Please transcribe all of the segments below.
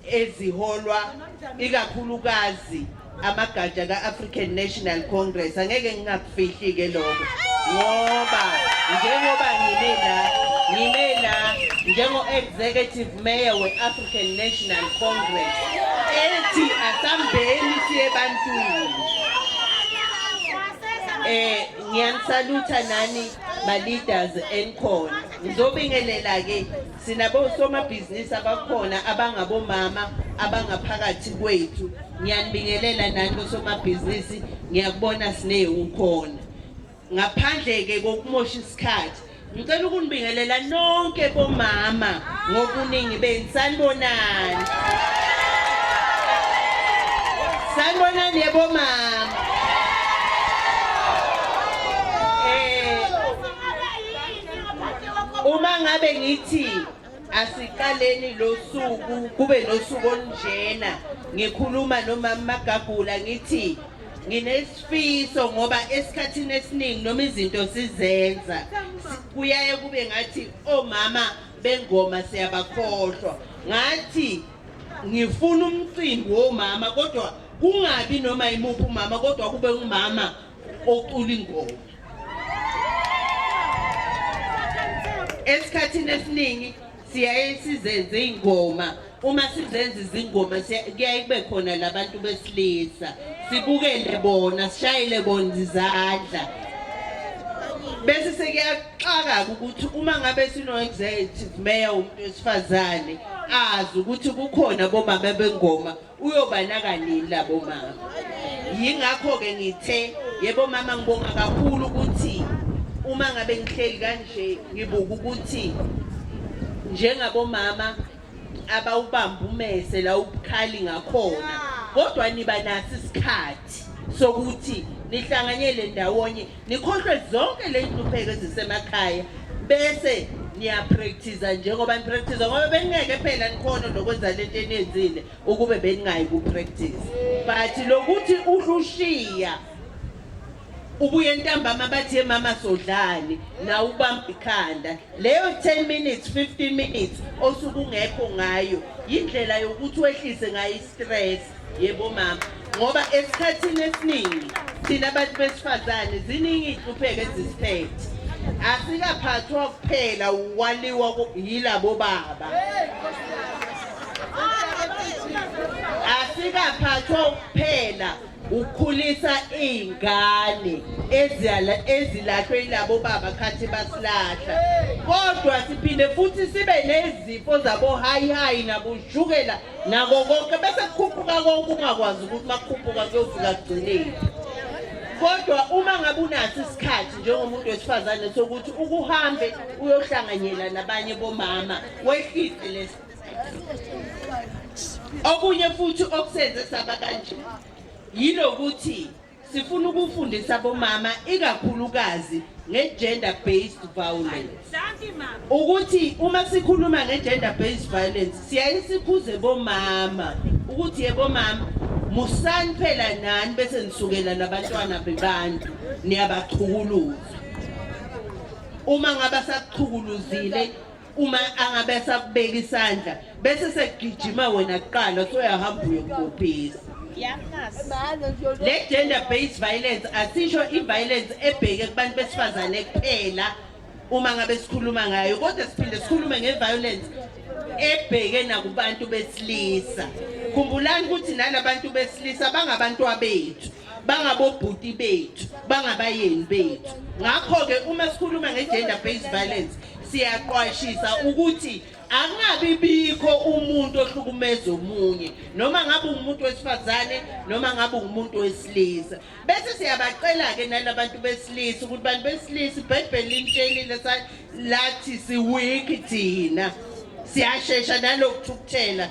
eziholwa ikakhulukazi amagatsha ka-African National Congress angeke ngingakufihli ke lokho ngoba njengoba ngime la ngime la njengo-executive mayor we-African National Congress ethi asambeni siye ebantwini eh ngiyanisalutha nani ma-leaders enikhona ngizobingelela-ke Sinabosomabhizinisi abakhona abangabomama abangaphakathi kwethu. Ngiyanibingelela nani bosomabhizinisi, ngiyakubona sine ukhona. Ngaphandle ke kokumosha isikhathi, ngicela ukunibingelela nonke bomama ngokuningi benu. Sanibonani. Sanibonani yebo mama. uma ngabe ngithi asiqaleni losuku kube nosuku olunjena ngikhuluma nomama magagula ngithi nginesifiso ngoba esikhathini esiningi noma izinto sizenza kuyaye kube ngathi omama bengoma siyabakhohlwa ngathi ngifuna umcimbi womama kodwa kungabi noma imuphi umama kodwa kube umama ocula ingoma esikhathini esiningi siyaye sizenze iy'ngoma uma sizenza izingoma kuyaye kube khona labantu besilisa sibukele bona sishayele bona izandla bese sekuyaxaka-ke ukuthi uma ngabe sino-executive mayor umuntu wesifazane azi ukuthi kukhona bomama bengoma uyobanaka nini labo mama yingakho-ke ngithe yebo mama ngibonga kakhulu ukuthi uma ngabe ngihleli kanje ngibuka ukuthi njengabomama abawubamba umese la ubukhali ngakhona kodwa niba nasi isikhathi sokuthi nihlanganyele ndawonye Nikhohlwe zonke leyinhlupheko ezisemakhaya bese niyapractice njengoba nipractice ngoba beningeke phela nikhona nokwenza lento eniyenzile ukube beningayi kupractice but lokuthi uhlushiya ubuye ntambama bathi ye mama sodlani na ubamba ikhanda leyo 10 minutes 15 minutes osuku ngekho ngayo indlela yokuthi wehlise ngayo istress yebo mama ngoba esikhathini esiningi thina abantu besifazane ziningi iy'hlupheko ezisiphethe asikaphathwa kuphela ukwaliwa yilabo baba asikaphathwa kuphela ukukhulisa iy'ngane ezilahlwe yilabo baba khathi basilahla kodwa siphinde futhi sibe nezifo zabo-high high naboshukela nako konke bese kukhuphuka konke ungakwazi ukuthi makukhuphuka kuyofika kugcineni kodwa uma ngabe unaso isikhathi njengomuntu wesifazane sokuthi ukuhambe uyohlanganyela nabanye bomama wehlise lesi okunye futhi okusenze saba kanje yilokuthi Sifuna ukufundisa bomama ikakhulukazi nge-gender based violence ukuthi uma sikhuluma nge-gender based violence siyaye sikhuze bomama ukuthi yebo mama musani phela nani bese nisukela nabantwana bebantu niyabachukuluza uma ngabe sakuchukuluzile uma angabe sakubeka isandla bese sekugijima wena kuqala soyahamba uyokubhisa le gender based violence asisho i-violence ebheke kubantu besifazane kuphela uma ngabe sikhuluma ngayo kodwa siphinde sikhulume nge-violence ebheke nakubantu besilisa khumbulani ukuthi nalabantu besilisa bangabantwabethu bangabobhuti bethu bangabayeni bethu ngakho-ke uma sikhuluma nge-gender based violence siyaqwashisa ukuthi angabi bikho umuntu ohlukumeza omunye noma ngabe umuntu wesifazane noma ngabe umuntu wesilisa bese siyabacela-ke nalabantu besilisa ukuthi bantu besilisa ibhayibheli lintshelile lathi siwiki thina siyashesha nalokuthukuthela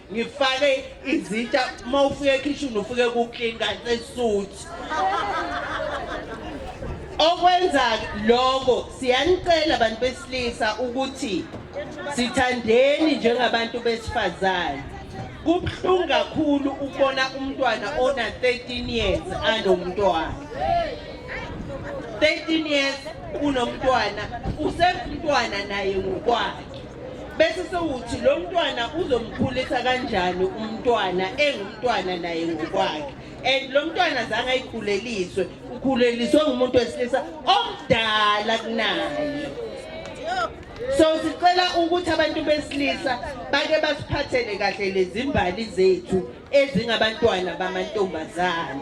ngifake izitsha uma ufike ekhishini ufike kuclean kanti esuit okwenza lokho siyanicela abantu besilisa ukuthi sithandeni njengabantu besifazane kubuhlungu kakhulu ukubona umntwana ona 13 years anomntwana 13 years unomntwana usemntwana naye ngokwakhe bese sewuthi lo mntwana uzomkhulisa kanjani umntwana engumntwana naye ngokwakhe and lo mntwana zange ayikhuleliswe ukhuleliswe ngumuntu wesilisa omdala kunaye so sicela ukuthi abantu besilisa bake basiphathele kahle lezimbali zethu ezingabantwana bamantombazana